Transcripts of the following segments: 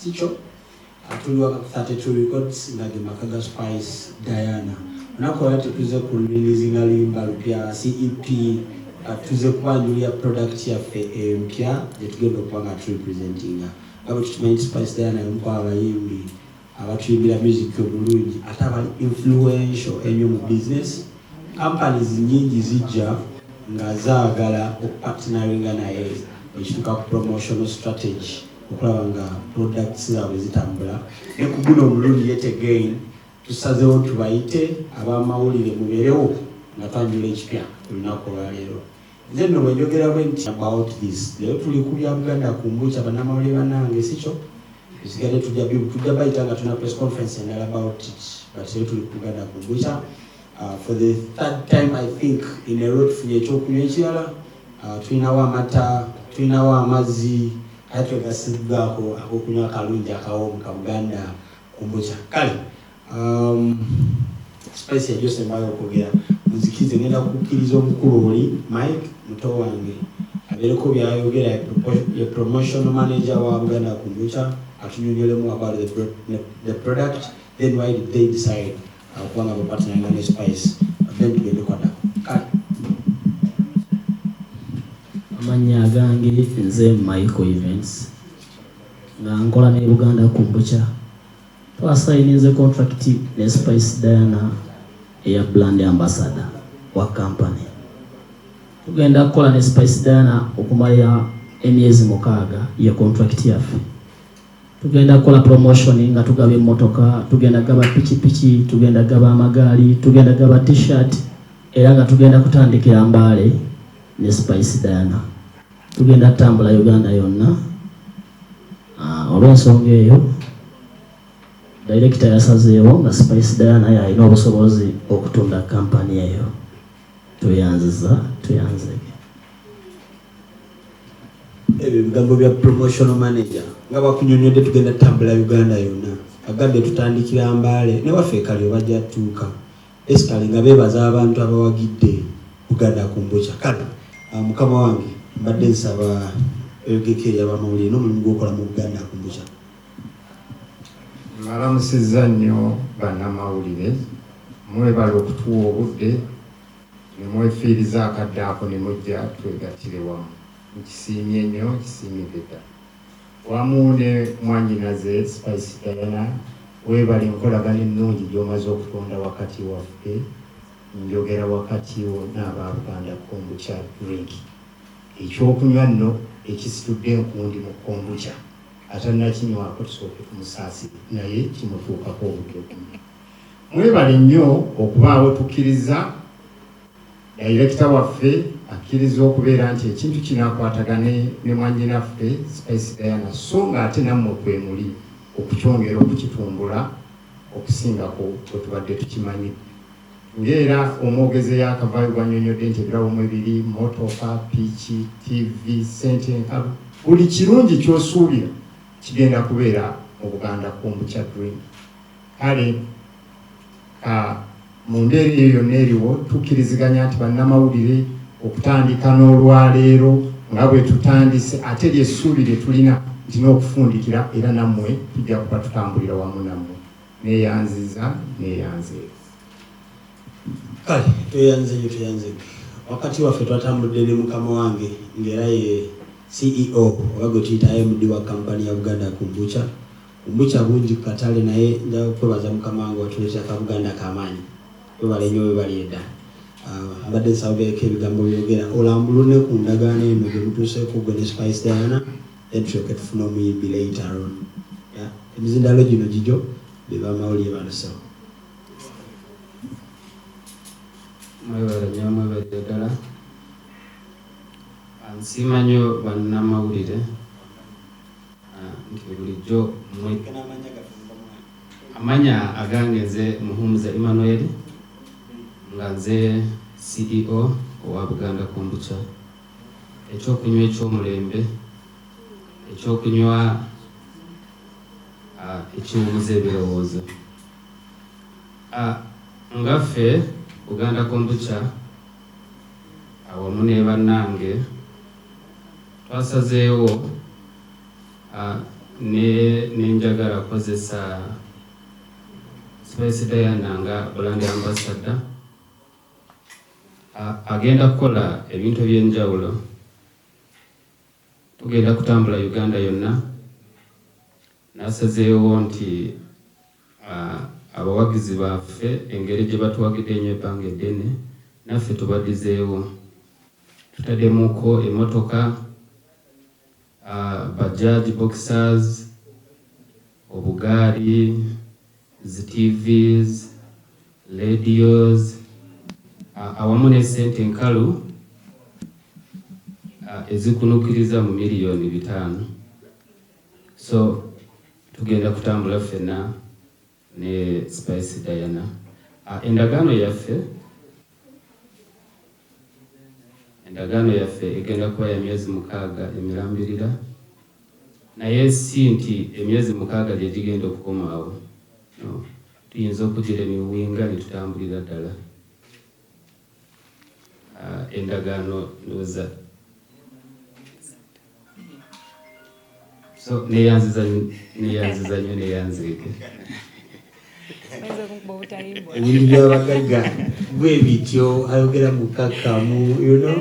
Sikyo atuli waka ku 32 records nga ge maka ga Spice Diana. Olunaku olwa tetuze ku releasinga luyimba lupya si EP but tuze kubanjulira product yaffe empya gye tugenda okuba nga tu representinga nga bwe tukimanyi nti Spice Diana y'omu kwabo abayimbi abatuyimbira music obulungi ate abali influential ennyo mu business companies nyingi zijja nga zaagala okupartinaringa naye ekituuka ku promotional strategy okulaba nga products zaabwe zitambula ne ku guno omulundi yet again tusazeewo tubayite abamawulire mubeerewo nga twanjula ekipya olunaku olwaleero nze nno bwenjogera bwe nti about this leero tuli ku bya buganda ku mbukya bannamawulire banange sikyo esigade tujja tujja bayita nga tuna press conference endala about it but leero tuli ku buganda ku mbukya uh, for the third time i think in a row tufunye ekyokunywa ekirala Ah, tulinawo amata tulinawo amazzi aye twegasiddwako agokunywa akalungi akawomu ka buganda kumbuca kale um, spice yajosembayo okwogera nzikize ngenda kukkiriza omukulu oli mike muto wange abeereko byayogera ye promotion manager wa buganda kumbuca atunyonyolemu about the, the product then why did they decide Akuba nga bwepatnanga ne spice then tugende kwada kale. Amannya agange nze Michael Events nga nkola ne Buganda Kombucha. Twasayininze contract ne Spice Diana eya brand ambassador wa company. Tugenda kukola ne Spice Diana okumala emyezi mukaaga ye contract yaffe. Tugenda kola promotion nga tugaba emmotoka, tugenda gaba pikipiki, tugenda gaba amagaali, tugenda gaba t-shirt era nga tugenda kutandikira Mbale ne Spice Diana. Tugenda tambula Uganda yonna. Ah, olw'ensonga eyo director yasazeewo nga Spice Diana yalina obusobozi okutunda kampani eyo. Tweyanziza, tweyanzege. ebyo bigambo bya promotional manager nga bakunyonyodde tugenda tambula uganda yonna agambye tutandikira mbaale newaffe ekali obajja tuuka esikali nga bebaza abantu abawagidde buganda kumbuca kale ah, mukama wange mbadde nsaba lgk yabamawulire nomulimu gwokola mu buganda kumbuca malamusiza nnyo banamawulire mwebala okutuwa obudde ne mwefiiriza akadde ako ne mujja twegattire wamu. Nkisiimye nnyo, nkisiimidde ddala. Wamu ne mwannyinaze Spice Diana, weebale enkolagana ennungi gy'omaze okutonda wakati waffe, njogera wakati wo n'aba Buganda Kombucha Drink. Ekyokunywa nno ekisitudde enkundi mu Kombucha, atannakinywako tusooke tumusaasire naye kimutuukako obudde obumu. Mwebale nnyo okubaawo tukkirizza dayirekita waffe akkirizza okubeera nti ekintu kino akwatagane ne mwannyinaffe Spice Diana so ng'ate nammwe kwemuli okukyongera okukitumbula okusingako bwe tubadde tukimanyi ng'era omwogezi eyakavaayo bw'annyonnyodde nti ebirabo mwe biri motoka piiki tivi ssente enkalu buli kirungi ky'osuubira kigenda kubeera mu buganda kumbu kya dream Kale ka mu mbeera eyo yonna eriwo, tukkiriziganya nti bannamawulire okutandika n'olwaleero nga bwe tutandise, ate lye ssuubi lye tulina nti n'okufundikira era nammwe tujja kuba tutambulira wamu nammwe. Neeyanziza, neeyanze. Kale tweyanze nnyo, tweyanze nnyo. Wakati waffe twatambudde ne mukama wange ng'era ye CEO oba gwe tuyita MD wa kampani ya Buganda Kombucha Obukya bungi kukatale naye nja kwebaza mukama wange watuletera akabuganda akamaanyi webale nyo webalyeda mbadde nsabeko ebigambo byogera olambulune ku ndagaano eno gyemutuuseko gwe ne spice diana then tulyoke tufune omuyimbi later on emizindalo gino gijo bebamawulire bano so mwebale nyo mwebale ddala nsiima nyo bannamawulire nti bulijjo mwe amanya agange nze muhumuza emmanuel nga nze ceo owa buganda kombucha ekyokunywa ekyomulembe ekyokunywa ah, ekiwumuza ebirowoozo ah, nga ffe buganda kombucha awamu ne bannange twasazeewo nenjagala kozesa Spice Diana nga Brand Ambassador agenda kukola ebintu eby'enjawulo tugenda kutambula Uganda yonna nasazeewo nti Abawagizi baffe engeri gye batuwagidde enyo ebbanga eddene naffe tubadizeewo. Tutademuko emotoka, Bajaj boxers, obugaali, zi TVs, ladios awamu ne sente enkalu ezikunukiriza mu million bitaano. So tugenda kutambula ffenna ne Spice Diana. Ah, endagaano yaffe endagaano yaffe egenda kuba ya myezi mukaaga emirambirira, naye si nti emyezi mukaaga gye gigenda okukomaawo. No. Tuyinza okugira emiwinga ne tutambulira ddala. endagaano ndowoza so neyanziza neyanziza nyo neyanzireke ebintu byabagagga bwe bityo ayogera mukakkamu you know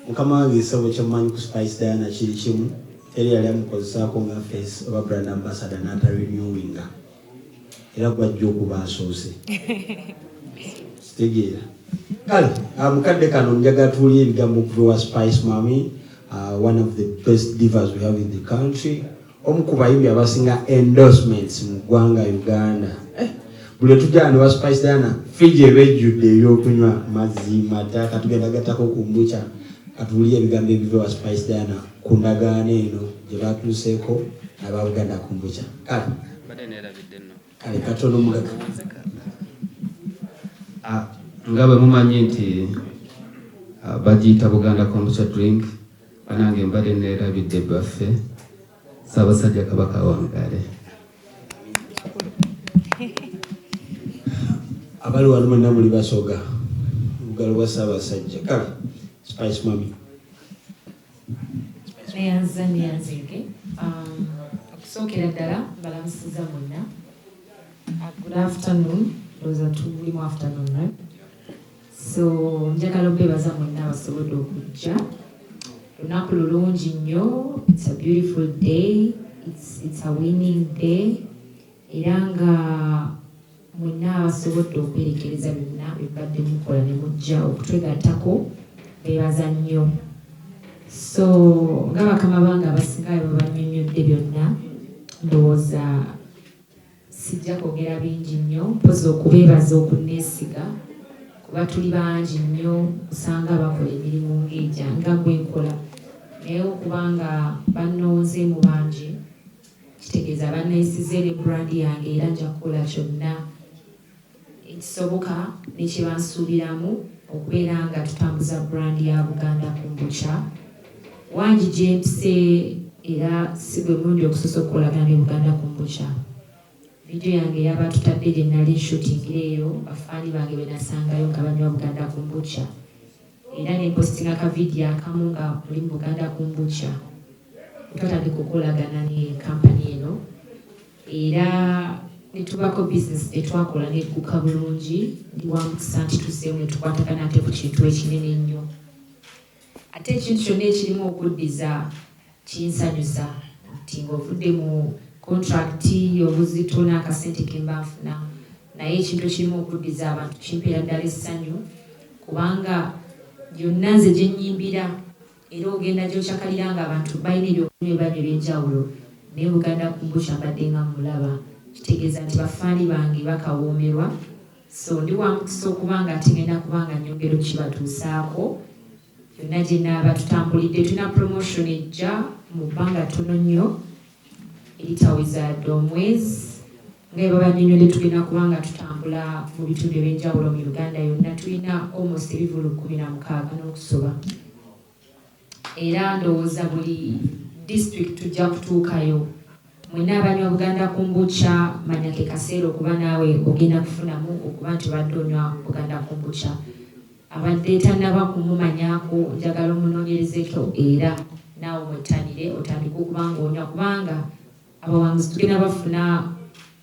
mukama wange ekisabo kyammanyi ku spice diana kiri kimu teri yali amukozesaako nga face oba brand ambassador n'atarenewinga era gwajja okuba asoose kitegeera kale ah, mukadde kano njagala tuwulire ebigambo okuva wa spice mami ah, one of the best divers we have in the country omu ku bayimbi abasinga endorsements mu ggwanga uganda eh, buli etujjana ne wa spice diana fiji eba ejjudde ebyokunywa mazzi mata katugenda gattako ku mbuca katuwulire ebigambo ebiva wa spice diana ku ndagaano eno gye batuuseeko nababuganda ku mbuca kale katono mulaga ah, nga bwe mumanyi nti ah, bagiyita buganda kombucha drink banange mbadde neerabidde baffe saabasajja kabaka wangale abali wano mwenna muli basoga olugalo lwa saabasajja kale spice mami neyanza neyanzege um, okusookera ddala balamusiza mwenna uh, good afternoon oza tulimu afternoon right? so njagala obebaza mwenna abasobodde okujja lunaku lulungi nnyo it's a beautiful day it's, it's a winning day era nga Mwenna abasobodde okwerekereza byonna bye mubadde mukola ne mujja okutwegattako beebaza nnyo. So nga bakama bange abasinga bwe bannyonnyodde byonna ndowooza sijja kwogera bingi nnyo mpozi okubeebaza okunneesiga kuba tuli bangi nnyo osanga bakola emirimu ng'egya nga gwe nkola naye okubanga bannonze mu bangi Kitegeeza banneesize ne brand yange era nja kukola kyonna ekisoboka ne kye bansuubiramu okubeera nga tutambuza brand ya Buganda Kombucha. Wangi gye mpise era si gwe mulundi ogusoose okukolagana ne Buganda Kombucha. Vidiyo yange yabatutadde gye nnali nshutingira eyo bafaani bange be nasangayo nga banywa Buganda Kombucha. era ne mpositinga ka vidiyo akamu nga oli mu Buganda Kombucha we twatandika okukolagana ne kampani eno era ne tubaako bizinesi gye twakola n'egguka bulungi ndi wa mukisa nti tuzzeemu ne tukwatagana ate ku kintu ekinene ennyo ate ekintu kyonna ekirimu okuddiza Kinsanyusa nti ng'ovudde mu kontulakiti y'obuzito n'akasente ke mba nfuna naye ekintu ekirimu okuddiza abantu kimpeera ddala essanyu kubanga yonna nze gye nnyimbira era ogenda gyokyakalira nga abantu balina ebyokunywa ebibanya ebyenjawulo naye buganda kumbukya mbadde nga mulaba kitegeeza nti bafaali bange bakawoomerwa so ndi wamukisa okuba nga ate ngenda kuba nga nyongera okukibatuusaako Yonna gye naaba tutambulidde tulina promotion ejja mu bbanga ttono nnyo eritawezaadde omwezi nga bwe babanyonyodde tugenda kuba nga tutambula mu bitundu eby'enjawulo mu Uganda yonna tulina almost ebivulu kkumi na mukaaga n'okusoba era ndowooza buli district tujja kutuukayo Mwena abanywa Buganda Kumbucha manya ke kaseera okuba naawe ogenda kufunamu okuba nti obadde onywa Buganda Kumbucha. Abadde tanaba kumumanyaako njagala omunonyerezeko era naawe omwettanire otandike okuba nga onywa kubanga abawanguzi tugenda bafuna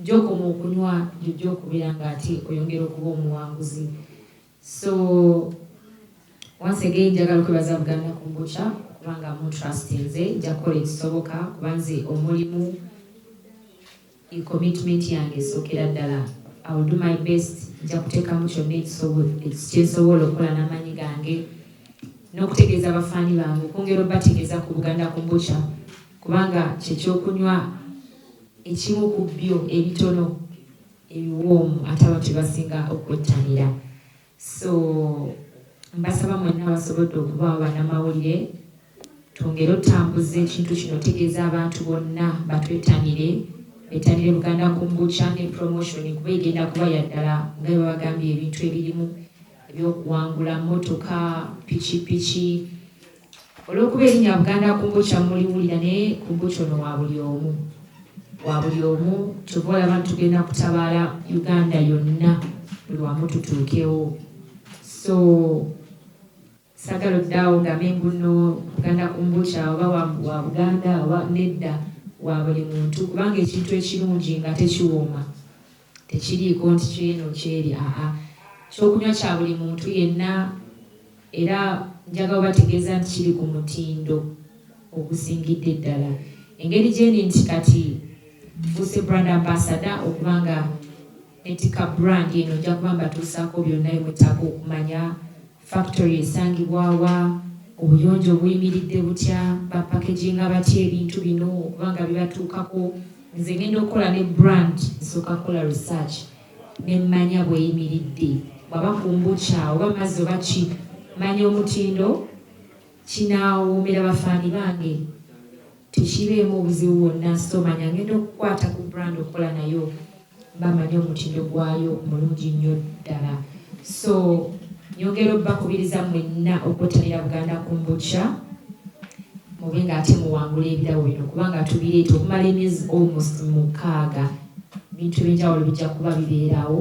jokoma okunywa jojja okubeera nga ate oyongera okuba omuwanguzi. So once again njagala okwebaza Buganda Kombucha kubanga mu trustinze nja kukola ekisoboka kuba nze omulimu commitment yange esookera ddala I will do my best nja kuteekamu kyonna ekyensobola okukola n'amaanyi gange n'okutegeeza abafaani bange okwongera obategeeza ku Buganda Kombucha kubanga kyekyokunywa ekimu ku byo ebitono ebiwoomu ate abantu bebasinga okwettanira so mbasaba mwenna abasobodde okubaawo bannamawulire twongere otambuza ekintu kino otegeeza abantu bonna batwetanire bettanire buganda kumbucha ne promotion kuba egenda kuba yaddala nga bebabagambye ebintu ebirimu ebyokuwangula motoka pikipiki Olw'okuba erinnya Buganda Kombucha muliwulira naye kombucha ono wa buli omu wa buli omu kyova olaba nti tugenda kutabaala Uganda yonna buli wamu tutuukewo so sagala oddaawo ngambe mbuno Buganda Kombucha oba wa Buganda oba nedda wa buli muntu kubanga ekintu ekirungi nga tekiwooma Tekiriiko nti ky'eno ky'eri, aa, ky'okunywa kya buli muntu yenna. Era njagala obategeeza nti kiri ku mutindo ogusingidde ddala. Engeri gyendi nti kati nfuuse Brand Ambassador, okuba nga nettikka brand eno, nja kuba mbatuusaako byonna bye mwetaaga okumanya. Factory esangibwa wa? Obuyonjo buyimiridde butya? Ba packaginga batya ebintu bino okuba nga bibatuukako? Nze ngenda okukola ne brand nsooka kukola research ne mmanya bweyimiridde bwaba kumbukya oba mazzi oba ki manya omutindo kinaawomera bafaani bange. Tekibeemu buzibu bwonna so manya ngenda okukwata ku brand okukola nayo mba manyi omutindo gwayo mulungi nnyo ddala so nyongera obubakubiriza mwenna okwettanira buganda kumbuca mube ng'ate muwangula ebirabo bino kubanga tubireeta okumala emyezi almost mukaaga bintu ebyenjawulo bijja kuba bibeerawo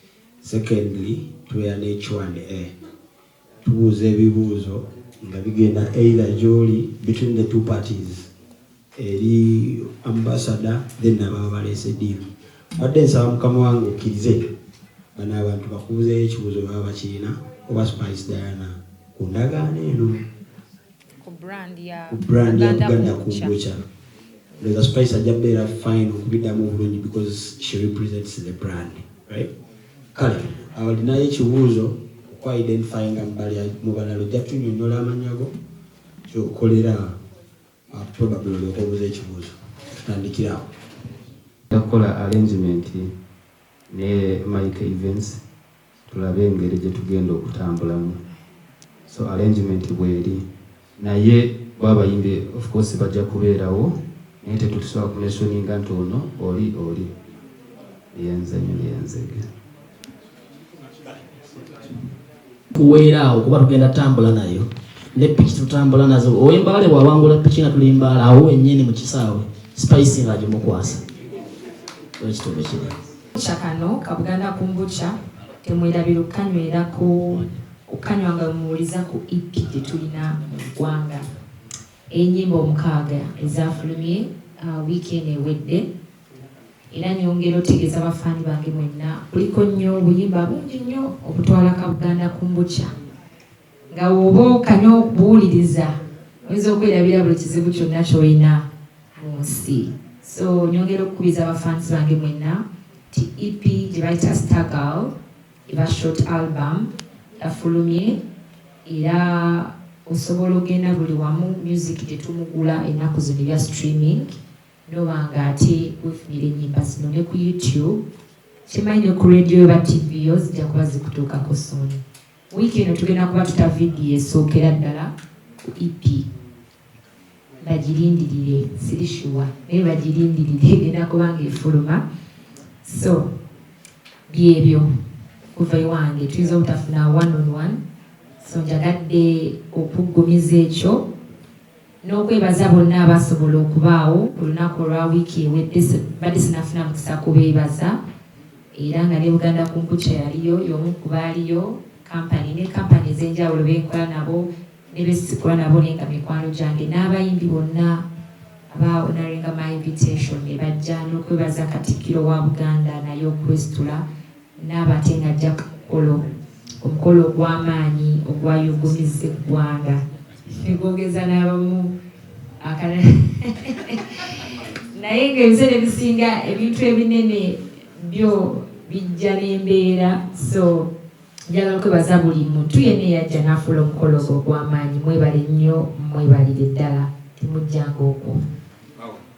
Secondly tubeera ne Q and A tubuuza ebibuuzo nga bigenda either gyoli between the two parties eri ambassador then nababa baleese deal badde nsaba mukama wange okkirize bano abantu bakubuzeeyo ekibuuzo baba bakirina oba spice diana ku ndagaano eno ku brand ya Buganda Kombucha Leza Spice ajja beera fine okubidamu obulungi because she represents the brand right kale awo linayo ekibuuzo okwa identify nga mubalala ojja tunyonyola amanya go kyokolera uh, probably olyoka obuza ekibuuzo tutandikirawo takola arrangement ne mike events tulabe engeri gyetugenda okutambulamu so arrangement bweri naye bo abayimbi of course bajja kubeerawo naye tetusobola ku mentioninga nti ono oli oli yenzanyo yenzege kuweera awo kuba tugenda tambula nayo ne piki tutambula nazo owembaale bwawangula piki nga tuli mbaala awo wenyini mu kisaawe spice nga agimukwasa ekitobe kiri Bukya kano ka Buganda Kumbukya temwerabira okukanywera ku okukanywa nga muwuliza ku EP gye tulina mu ggwanga ey'ennyimba omukaaga ezaafulumye uh, wiiki eno ewedde era nyongera otegeeza abafaani bange mwenna kuliko nnyo obuyimba bungi nnyo obutwala ka Buganda Kumbukya Nga bw'oba okanya okubuuliriza, oyinza okwerabira buli kizibu kyonna ky'olina mu nsi. So, nyongera okukubiriza ba fans bange mwenna nti EP gye bayita Stargal eba short album yafulumye era osobola ogenda buli wamu music gye tumugula ennaku zino ebya streaming noba nga ate wefunira ennyimba zino ne ku YouTube kimanyi ne ku radio oba TV yo zijja kuba zikutuukako sooni. Wiiki eno tugenda kuba tuta vidiyo esookera ddala ku EP. Bagirindirire, siri shuwa naye bagirindirire egenda kuba ng'efuluma. So byebyo kuva ewange tuyinza obutafuna one on one, so njagadde okuggumiza ekyo. n'okwebaza bonna abaasobola okubaawo ku lunaku olwa wiiki ewedde badde sinafuna mukisa kubeebaza era nga ne Buganda Kumpucha yaliyo y'omu ku baaliyo kampani ne kampani ez'enjawulo benkola nabo ne besikola nabo naye nga mikwano gyange n'abayimbi bonna abaawonaringa my invitation ne bajja n'okwebaza Katikkiro wa Buganda naye okwesitula n'aba ate ng'ajja ku mukolo omukolo ogw'amaanyi ogwayuugumizza eggwanga ne gwogeza n'abamu akalala naye ng'ebiseera ebisinga ebintu ebinene byo bijja n'embeera so njagala kwebaza buli muntu yenna eyajja n'afuula omukolo ogwo ogw'amaanyi mwebale nnyo mwebalire ddala temujjanga okwo